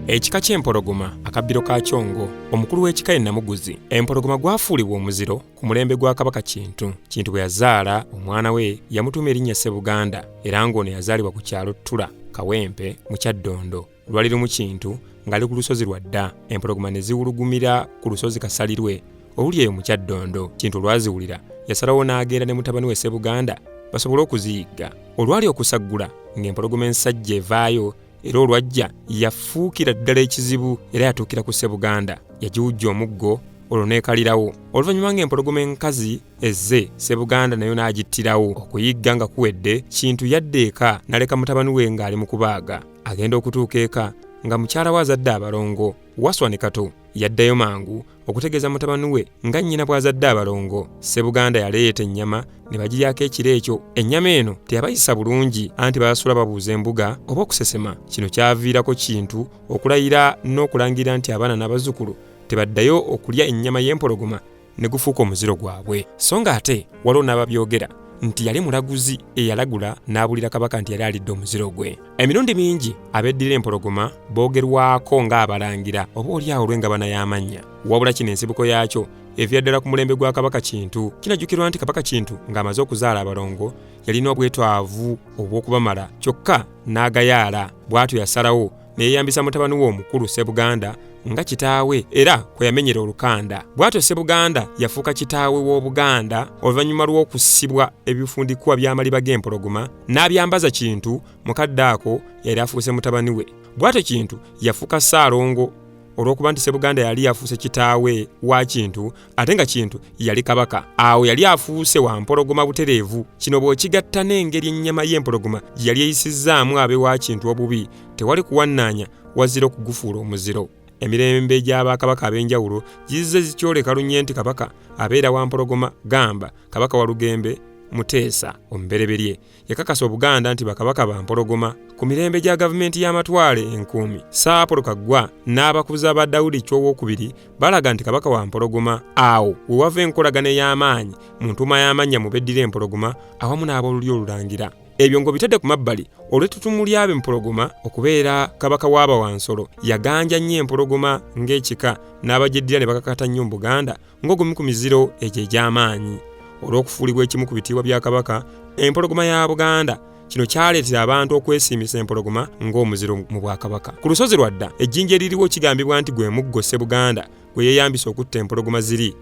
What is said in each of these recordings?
ekika ky'empologoma akabbiro ka kyongo omukulu w'ekika ye namuguzi empologoma gwafuulibwa omuziro ku mulembe gwa kabaka kintu kintu bwe yazaala omwana we yamutuuma erinnya ssebuganda era ng'ono yazaalibwa ku kyalo ttula kawempe mu kyaddondo lwali lumu kintu ng'ali ku lusozi lwa dda empologoma ne ziwulugumira ku lusozi kasalirwe oluli eyo mu kyaddondo kintu olwaziwulira yasalawo n'agenda ne mutabani we sebuganda basobole okuziyigga olwali okusaggula ng'empologoma ensajja evaayo era olwajja yafuukira ddala ekizibu era yatuukira ku sebuganda yagiwujja omuggo olwo neekalirawo oluvannyuma ng'empologoma enkazi ezze sebuganda nayo n'agittirawo okuyigga nga kuwedde kintu yadda eka naleka mutabani we ng'ali mu kubaaga agenda okutuuka eka nga mukyala we azadde abalongo waswa ne kato yaddayo mangu okutegeeza mutabani we nga nnyina bw'azadde abalongo ssebuganda yaleeta ennyama ne bagiryako ekiro ekyo ennyama eno teyabayisa bulungi anti baasula babuuza embuga oba okusesema kino kyaviirako kintu okulayira n'okulangira nti abaana n'abazzukulu tebaddayo okulya ennyama y'empologoma ne gufuuka omuziro gwabwe so nga ate waliwo n'ababyogera nti yali mulaguzi eyalagula n'abulira kabaka nti yali alidde omuziro gwe emirundi mingi abeddira empologoma boogerwako ng'abalangira oba olyawo olw'engabana y'amannya wabula kino ensibuko yaakyo evira ddala ku mulembe gwa kabaka kintu kinajjukirwa nti kabaka kintu ng'amaze okuzaala abalongo yalina obwetwavu obw'okubamala kyokka n'agayaala bw'atyo yasalawo ne yeeyambisa mutabani we omukulu Ssebuganda nga kitaawe era kwe yamenyera olukanda. Bw'atyo Ssebuganda yafuuka kitaawe w'Obuganda oluvannyuma lw'okusibwa ebifundikwa by'amaliba g'empologoma n'abyambaza Kintu mu kadde ako yali afuuse mutabani we. Bw'atyo Kintu yafuuka Ssaalongo olw'okuba nti Ssebuganda yali yafuuse kitaawe wa Kintu ate nga kintu yali kabaka awo yali afuuse wa mpologoma butereevu kino bw'okigatta n'engeri ennyama y'empologoma gye yali eyisizzaamu abe wa kintu obubi tewali kuwannaanya wazira okugufuula omuziro emirembe gy'abakabaka ab'enjawulo gizze zikyoleka lunye nti kabaka abeera wa mpologoma gamba kabaka walugembe muteesa omubereberye yakakasa obuganda nti bakabaka ba mpologoma ku mirembe gya gavumenti y'amatwale enkuumi saapolo kaggwa n'abakuza ba dawudi ky'owokubiri balaga nti kabaka wa mpologoma awo we wava enkolagana ey'amaanyi mu ntuuma y'amannya mu beddira empologoma awamu n'ab'olulyo olulangira ebyo ng'obitadde ku mabbali olw'ettutumu ly'abe mpologoma okubeera kabaka w'abawansolo yaganja nnyo empologoma ng'ekika n'abagyeddira ne bakakata nnyo mu buganda ng'ogumu ku miziro egyo egy'amaanyi olw'okufuulibwa ekimu ku bitiibwa bya kabaka empologoma ya buganda kino kyaleetera abantu okwesiimisa empologoma ng'omuziro mu bwakabaka ku lusozi lwadda ejjinja eririwo kigambibwa nti gwe muggo ssebuganda gwe yeeyambisa okutta empologoma ziri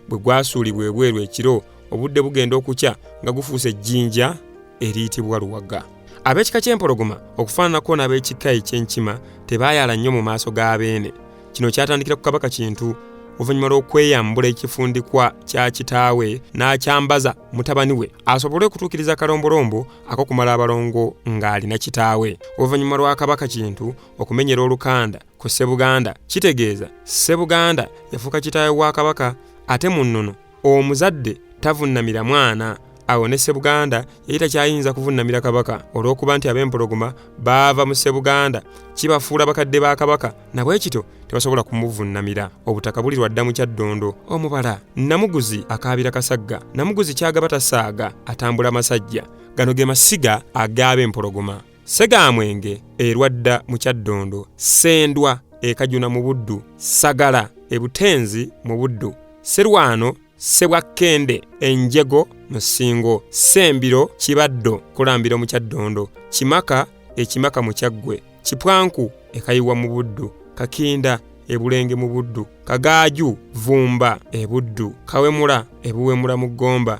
bwe gwasuulibwa ebweru ekiro obudde bugenda okukya nga gufuuse ejjinja eriyitibwa luwaga ab'ekika ky'empologoma okufaananako n'ab'ekika eky'enkima tebaayala nnyo mu maaso ga beene kino kyatandikira ku kabaka kintu oluvannyuma lw'okweyambula ekifundikwa kya kitaawe n'akyambaza mutabani we asobole okutuukiriza akalombolombo akokumala abalongo ng'alina kitaawe oluvannyuma lwa kabaka kintu okumenyera olukanda ku ssebuganda kitegeeza ssebuganda yafuuka kitaawe wa kabaka ate mu nnono omuzadde tavunnamira mwana awo ne ssebuganda yali takyayinza kuvunnamira kabaka olw'okuba nti ab'empologoma baava mu ssebuganda kibafuula bakadde ba kabaka nabwe kityo tebasobola kumuvunnamira obutaka buli lwadda mu kyaddondo omubala namuguzi akaabira kasagga namuguzi kyagaba tasaaga atambula masajja gano ge masiga agaaba empologoma Segamwenge e Lwadda mu Kyaddondo, Ssendwa e Kajuna mu Buddu, Ssagala e Butenzi mu Buddu, Sserwano Ssebwakkende e Njego mu Ssingo, Ssembiro Kibaddo Kulambiro mu Kyaddondo, Kimaka e Kimaka mu Kyaggwe, Kipwanku e Kayiwa mu Buddu, Kakinda e Bulenge mu Buddu, Kagaaju Vumba e Buddu, Kawemula e Buwemula mu Gomba,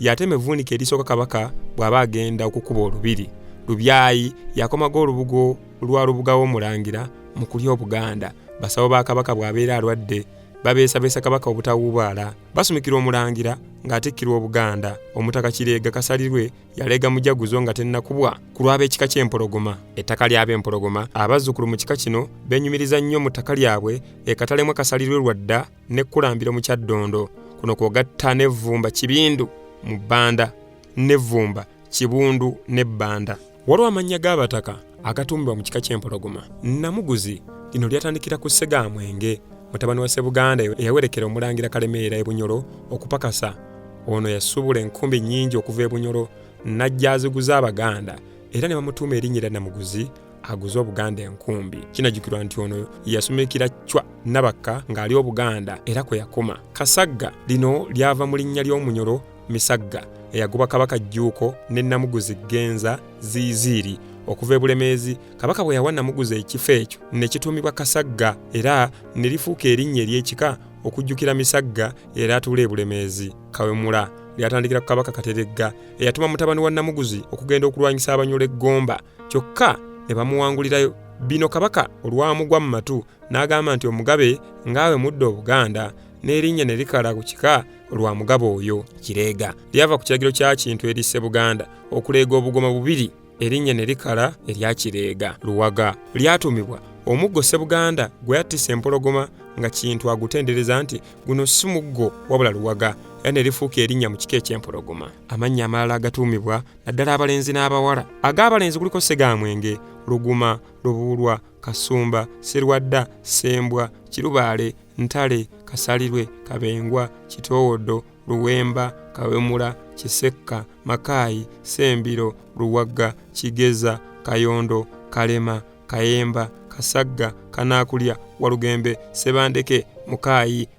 yatema evvuunika erisooka kabaka bw'aba agenda okukuba olubiri lubyayi yakomaga olubugo lwa lubuga w'omulangira mu kulya obuganda basawo ba kabaka bw'abeera alwadde babeesabeesa kabaka obutawuubaala basumikira omulangira ng'atikkirwa obuganda omutaka kireega kasalirwe yaleega mujaguzo nga tennakubwa ku lw'ab'ekika ky'empologoma ettaka ly'ab'empologoma abazzukulu mu kika kino benyumiriza nnyo mu ttaka lyabwe ekatalemwa kasalirwe lwadda ne kulambiro mu kyaddondo kuno kwogatta ne vvumba kibindu mu bbanda ne vvumba kibundu ne bbanda waliwo amannya g'abataka agatuumibwa mu kika ky'empologoma namuguzi lino lyatandikira ku ssegaamwenge mutabani wa sebuganda eyawerekera omulangira kalemeera ebunyolo okupakasa ono yasubula enkumbi nnyingi okuva ebunyolo n'ajja aziguza abaganda era ne bamutuuma erinnya erya namuguzi aguze obuganda enkumbi kinajjukirwa nti ono yasumikira cwa nabakka ng'ali obuganda era kwe yakoma kasagga lino lyava mu linnya ly'omunyolo misagga eyagoba kabaka jjuuko ne namuguzi genza ziiziiri okuva e bulemeezi kabaka bwe yawa namuguzi ekifo ekyo ne kituumibwa kasagga era ne lifuuka erinnya ery'ekika okujjukira misagga era atuula e bulemeezi kawemula lyatandikira ku kabaka kateregga eyatuma mutabani wa namuguzi okugenda okulwanyisa abanyola eggomba kyokka ne bamuwangulirayo bino kabaka olwamugwa mu matu n'agamba nti omugabe ng'awe mudda obuganda n'erinnya ne likala ku kika olwa mugabo oyo kireega lyava ku kiragiro kya kintu erisse buganda okuleega obugoma bubiri erinnya ne likala erya kireega luwaga lyatuumibwa omuggo ssebuganda gwe yattisa empologoma nga kintu agutendereza nti guno si muggo wabula luwaga era ne lifuuka erinnya mu kika eky'empologoma amannya amalala agatuumibwa naddala abalenzi n'abawala ag'abalenzi kuliko segamwenge luguma lubuulwa kasumba serwadda sembwa kirubaale ntale kasalirwe kabengwa kitoowodo luwemba kawemula kisekka makaayi sembiro luwagga kigeza kayondo kalema kayemba kasagga kanaakulya walugembe sebandeke mukaayi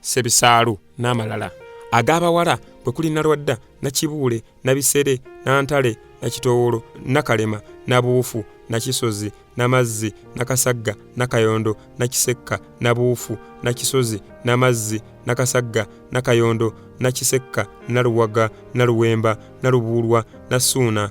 Ssebisaalu n'amalala ag'abawala kwe kuli Nalwadda, Nakibuule, Nabisere, Nantale, Nakitowolo, Nakalema, Nabuufu, Nakisozi, Namazzi, Nakasagga, Nakayondo, Nakisekka, Nabuufu, Nakisozi, Namazzi, Nakasagga, Nakayondo, Nakisekka, Naluwaga, Naluwemba, Nalubuulwa, Nasuuna,